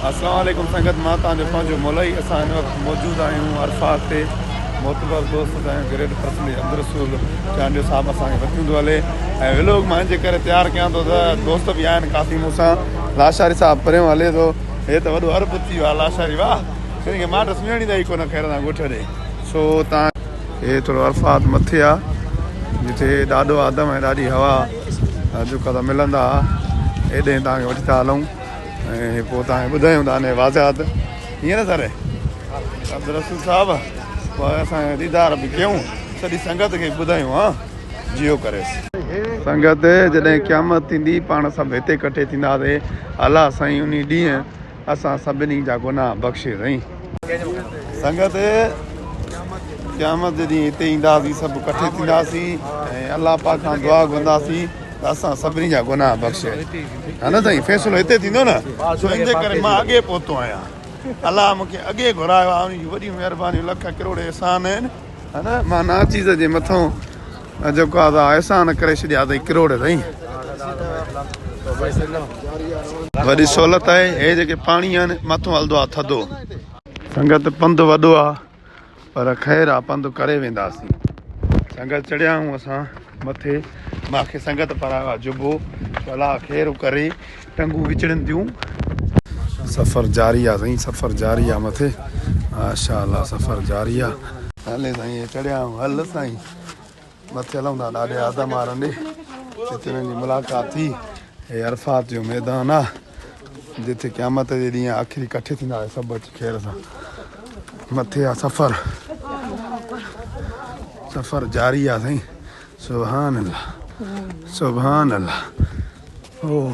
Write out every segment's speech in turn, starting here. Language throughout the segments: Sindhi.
السلام عليڪم سنگت مان توهان جو پنهنجو مولوي اسان هن وقت موجود آهيون عرفات تي معتبر دوست سائين گريٽ پرسنلي عبدالرسول چانڊيو صاحب اسان کي وٺي ويندو هلي ۽ ولوگ مان جي ڪري تيار ڪيان ٿو ته دوست به آهن ڪافي مون سان لاشاري صاحب پريون هلي ٿو هي ته وڏو عرب ٿي ويو لاشاري واهه هن کي ماٽ سڃاڻي ته ئي ڪونه خير سان ڳوٺ ڏي سو تان هي ٿورو عرفات مٿي آ جتي ڏاڍو آدم ۽ ڏاڍي هوا جوکا ته ملندا ايڏهين توهان کي وٺي ٿا هلون ۽ پوء توهان کي ٻڌايون ٿا انهيء واضحات ائين نه سر عبدالرسول صاحب پوء اسان ديدار به ڪيون سڄي سنگت کي ٻڌايون ها جيو ڪريس سنگت جڏهن قيامت ٿيندي پاڻ سڀ هتي ڪٺي ٿينداسين الله سائين انهي ڏينهن اسان سڀني جا گناهه بخشي رئين. سنگت! قيامت جي ڏينهن هتي اينداسين، سڀ ڪٺي ٿينداسين ۽ الله پاڪ کان دعا گهرنداسين ته اسان سڀني جا گناهه بخشي. ها نه سائين، فيصلو هتي ٿيندو نه، سو ان جي ڪري مان اڳي پهتو آهيان. الله مون کي اڳي گهرايو آهي، ان جون وڏيون مهربانيون، لک ڪروڙ احسان آهن. ها نه، مان ناچيز جي مٿئون. جيڪو آ سا احسان ڪري ڇڏيا اٿئي ڪروڙ سائين وڏي سهولت آهي هي جيڪي پاڻي آهن مٿو هلندو آ ٿڌو سنگت پنڌ وڏو آ پر خير آ پنڌ ڪري وينداسين سنگت چڙهيا آهيون اسان مٿي ماکي سنگت پرايو آ جبو بلا خير ڪري ٽنگون وچڙين ٿيون سفر جاري آ سائين سفر جاري آ مٿي ماشاءالله سفر جاري آ هلي سائين چڙهيا آهيون هل سائين مٿي لهندا ڏاڏي آدم آرنڊي جتي هنن جي ملاقات ٿي هي عرفات جو ميدان آ جتي قيامت جي ڏينهن آخري ڪٺي ٿيندا آهي سڀ اچي خير سان مٿي آ سفر سفر جاري آ سائين سبحان الله سبحان الله اوه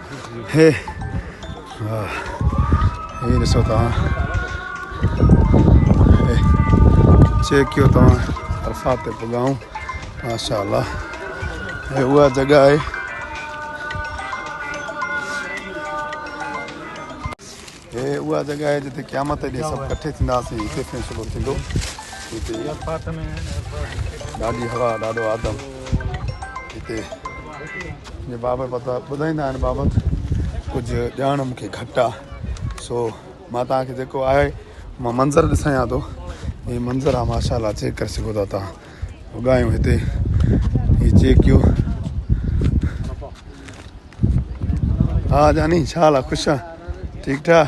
هي هي ڏسو توهان هي چيڪ ڪيو توهان عرفات تي پڳائون ماشاء الله هي اها جڳا آهي هيء اها جڳهه آهي جتي قيامت جي ڏينهن سڀ ڪٺي ٿينداسين، هتي فيصلو ٿيندو. هتي ڏاڍي هوا، ڏاڍو آدم. هتي جي بابا پتا ٻڌائيندا هن بابت ڪجهه ڄاڻ مون کي گهٽ آهي، سو مان توهان کي جيڪو آهي مان منظر ڏسايان ٿو. هي منظر آهي ماشاء الله چيڪ ڪري سگهو ٿا توهان. اگهايون هتي هي چيڪيو. ها جاني ڇا حال آ خوش آ ٺيڪ ٺاڪ.